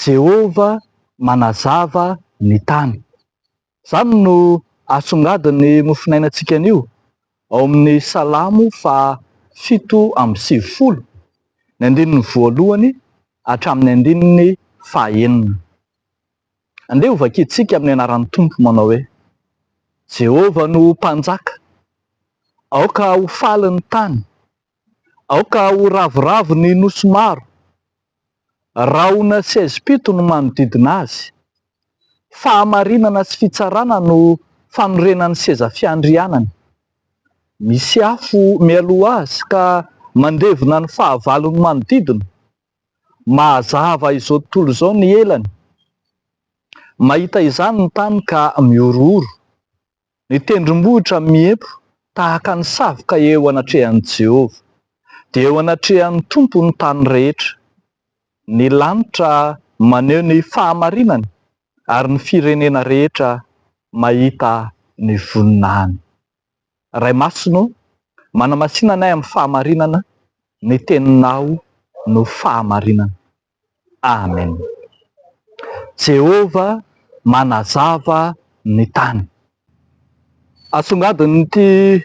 Jehovah manazava ny tany. Izany no asongadin'ny mofonainantsika anio ao amin'ny Salamo faha fito amby sivifolo, ny andininy voalohany hatramin'ny andininy faha enina. Andeha hovakintsika amin'ny anaran'ny Tompo manao hoe, Jehovah no Mpanjaka. Aoka ho faly ny tany Aoka ho ravoravo ny nosy maro, rahona sy haizim-pito no manodidina azy. Fahamarinana sy fitsarana no fanorenan'ny seza fiandrianany. Misy afo mialoha azy ka mandevona ny fahavalony manodidina. Mahazava izao tontolo izao ny elany. Mahita izany ny tany ka mihorohoro. Ny tendrombohitra miempo tahaka ny savoka eo anatrehan'i Jehovah, dia eo anatrehan'ny Tompo ny tany rehetra. Ny lanitra maneho ny fahamarinany, ary ny firenena rehetra mahita ny voninahiny. Ray Masina ô, manamasina anay amin'ny fahamarinana, ny Teninao no fahamarinana. Amen. Jehovah manazava ny tany. Asongadino ity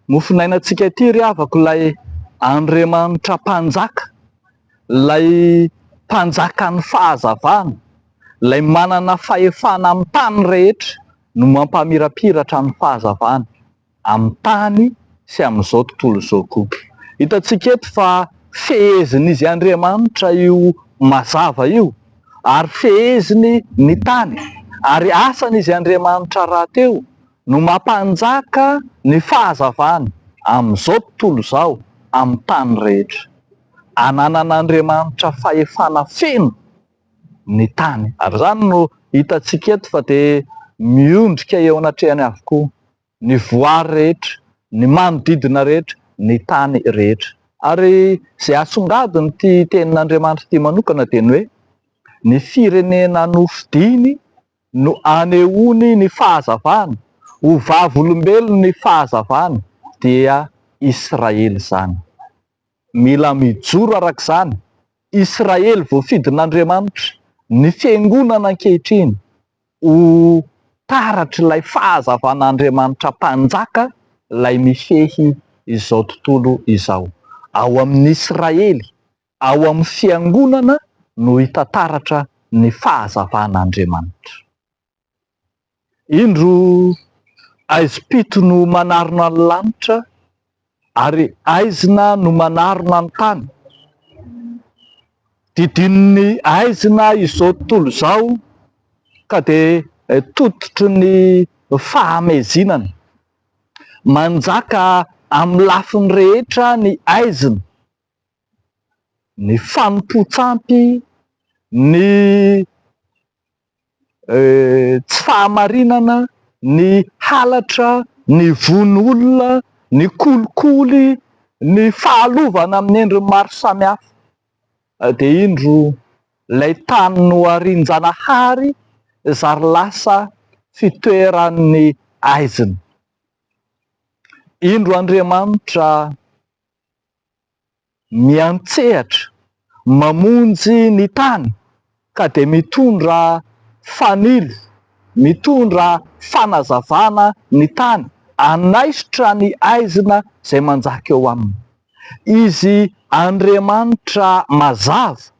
mofonainantsika ity ry havako ilay Andriamanitra Mpanjaka, ilay Mpanjakan'ny fahazavana, ilay manana fahefana amin'ny tany rehetra no mampamirapiratra ny fahazavany. amin'ny tany sy amin'izao tontolo izao koa. Hitantsika eto fa fehezin'izy Andriamanitra io mazava io ary feheziny ny tany ary asan'izy Andriamanitra rahateo no mampanjaka ny fahazavana amin'izao tontolo izao amin'ny tany rehetra. Ananan'Andriamanitra fahefana feno ny tany. Ary izany no hitantsika eto fa dia miondrika eo anatrehany avokoa ny voary rehetra, ny manodidina rehetra, ny tany rehetra. Ary izay asongadin'ity tenin'Andriamanitra ity manokana dia ny hoe ny firenena nofidiny no anehoany ny fahazavany, ho vavolombelon'ny fahazavany dia Israely izany. Mila mijoro araka izany, Israely voafidin'Andriamanitra, ny Fiangonana ankehitriny, ho taratr'ilay fahazavan'Andriamanitra Mpanjaka, ilay mifehy izao tontolo izao. Ao amin'ny Israely, ao amin'ny Fiangonana no hita taratra ny fahazavan'Andriamanitra. Indro haizim-pito no manarona ny lanitra ary haizina no manarona ny tany. Didinin'ny haizina izao tontolo izao ka dia tototry ny fahamezinana. Manjaka amin'ny lafiny rehetra ny haizina, ny fanompoan-tsampy, ny tsy fahamarinana, ny halatra, ny vono olona, ny kolikoly, ny fahalovana amin'ny endriny maro samihafa. Dia indro ilay tany noharian-janahary zary lasa fitoeran'ny aizina. Indro Andriamanitra miantsehatra mamonjy ny tany ka dia mitondra fanilo, mitondra fanazavana ny tany, anaisotra ny aizina izay manjaka eo aminy. Izy Andriamanitra mazava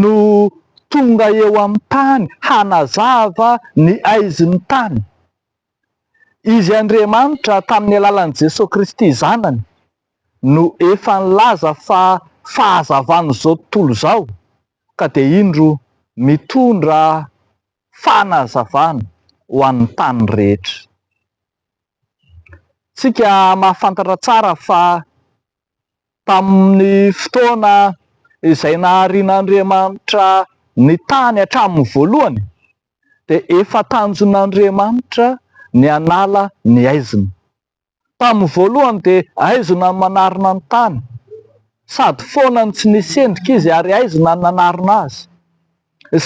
no tonga eo amin'ny tany hanazava ny aizin'ny tany. Izy Andriamanitra tamin'ny alalan'i Jesoa Kristy Zanany no efa nilaza fa fahazavan'izao tontolo izao ka dia indro mitondra fanazavana ho an'ny tany rehetra. Tsika mahafantatra tsara fa tamin'ny fotoana izay naharian'Andriamanitra ny tany hatramin'ny voalohany dia efa tanjon'Andriamanitra ny hanala ny haizina. Tamin'ny voalohany dia haizina ny manarina ny tany, sady foana no tsy nisy sendrika izy ary haizina ny nanarina azy.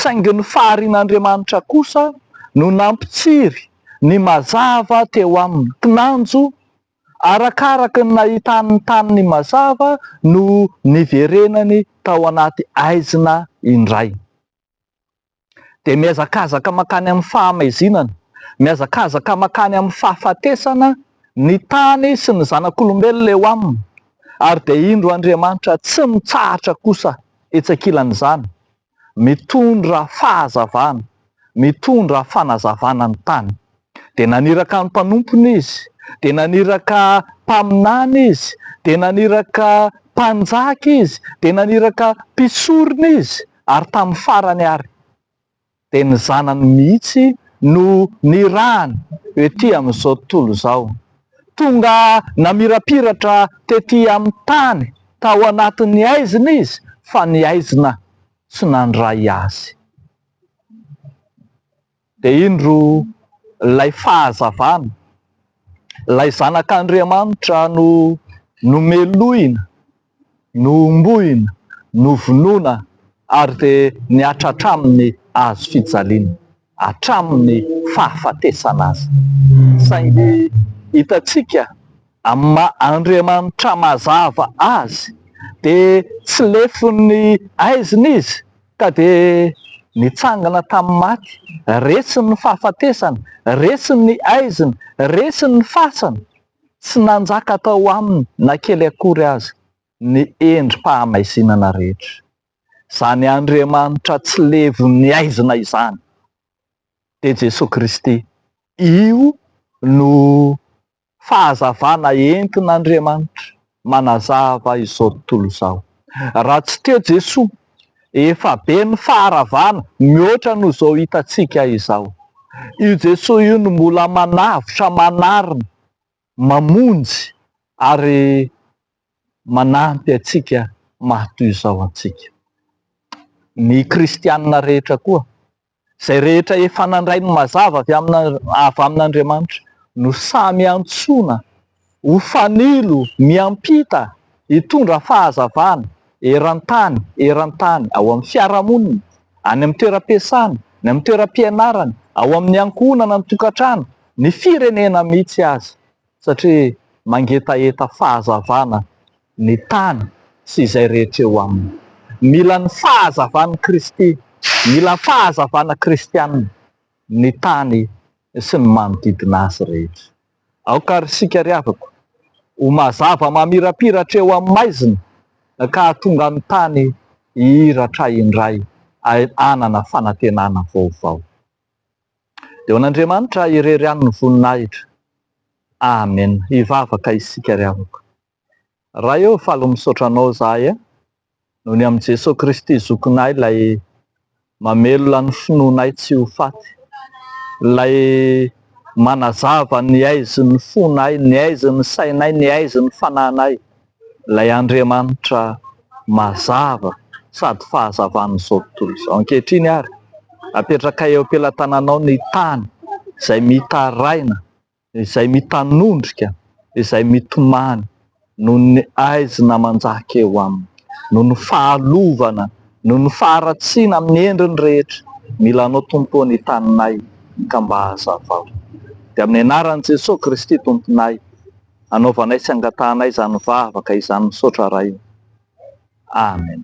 Saingy ny faharian'Andriamanitra kosa no nampitsiry ny mazava teo aminy. Kinanjo, arakaraka ny nahitany ny tany ny mazava no niverenany tao anaty haizina indray. dia mihazakazaka mankany amin'ny fahamaizinana, mihazakazaka mankany amin'ny fahafatesana ny tany sy ny zanak'olombelona eo aminy, ary dia indro Andriamanitra tsy mitsahatra kosa etsy ankilan'izany mitondra fahazavana, mitondra fanazavana ny tany. dia naniraka ny mpanompony izy, dia naniraka mpaminany izy, dia naniraka mpanjaka izy, dia naniraka mpisorona izy, ary tamin'ny farany àry, dia ny zanany mihitsy no nirahany etỳ amin'izao tontolo izao. Tonga namirapiratra tetỳ amin'ny tany tao anatin'ny aizina izy, fa ny aizina tsy nandray azy. Dia indro ilay fahazavana, ilay Zanak'Andriamanitra no nomelohina, nohomboina, novonoina ary dia nihatra hatramin'ny hazo fijaliana, hatramin'ny fahafatesana aza. Saingy hitantsika Amin'ny maha Andriamanitra mazava Azy dia tsy lefon'ny aizina Izy ka dia nitsangana tamin'ny maty, resiny ny fahafatesana, resiny ny aizina, resiny ny fasana, tsy nanjaka tao Aminy na kely akory aza ny endri-pahamaizinana rehetra. Izany Andriamanitra tsy levon'ny aizina izany dia Jesoa Kristy. Io no fahazavana entin'Andriamanitra manazava izao tontolo izao. Raha tsy teo Jesoa, efa be ny faharavana mihoatra noho izao hitantsika izao. Io Jesoa io no mbola manavotra, manarina, mamonjy ary manampy antsika maha toy izao antsika. Ny kristianina rehetra koa Izay rehetra efa nandray ny mazava avy amin' Andriamanitra no samy antsoina ho fanilo miampita hitondra fahazavana eran-tany eran-tany, ao amin'ny fiarahamonina, any amin'ny toeram-piasana, ny amin'ny toeram-pianarana, ao amin'ny ankohonana, ny tokantrano, ny firenena mihitsy aza. satria mangetaheta fahazavana ny tany sy izay rehetra eo aminy. Mila ny fahazavan'i Kristy, mila fahazavana kristiana ny tany sy ny manodidina azy rehetra. Aoka àry isika ry havako ho mazava mamirapiratra eo amin'ny maizina ka hahatonga ny tany hihiratra indray hanana fanantenana vaovao. Dia ho an'Andriamanitra irery ihany ny voninahitra. Amen. Hivavaka isika ry havako. Ray ô, faly misaotra Anao izahay a, noho ny amin'i Jesoa Kristy Zokinay ilay mamelona ny finoanay tsy ho faty, ilay manazava ny aizin'ny fonay, ny aizin'ny sainay, ny aizin'ny fanahinay. Ilay Andriamanitra mazava sady fahazavan'izao tontolo izao. Ankehitriny àry, apetrakay eo am-pelatananao ny tany izay mitaraina, izay mitanondrika, izay mitomany noho ny haizina manjaka eo aminy, noho ny fahalovana, noho ny faharatsiana amin'ny endriny rehetra. Mila Anao, Tompo ô, ny taninay, ka mba hazavao. Dia amin'ny Anaran'i Jesoa Kristy, Tomponay. anaovanay sy angatahanay izany vavaka izany misaotra Ray Amen.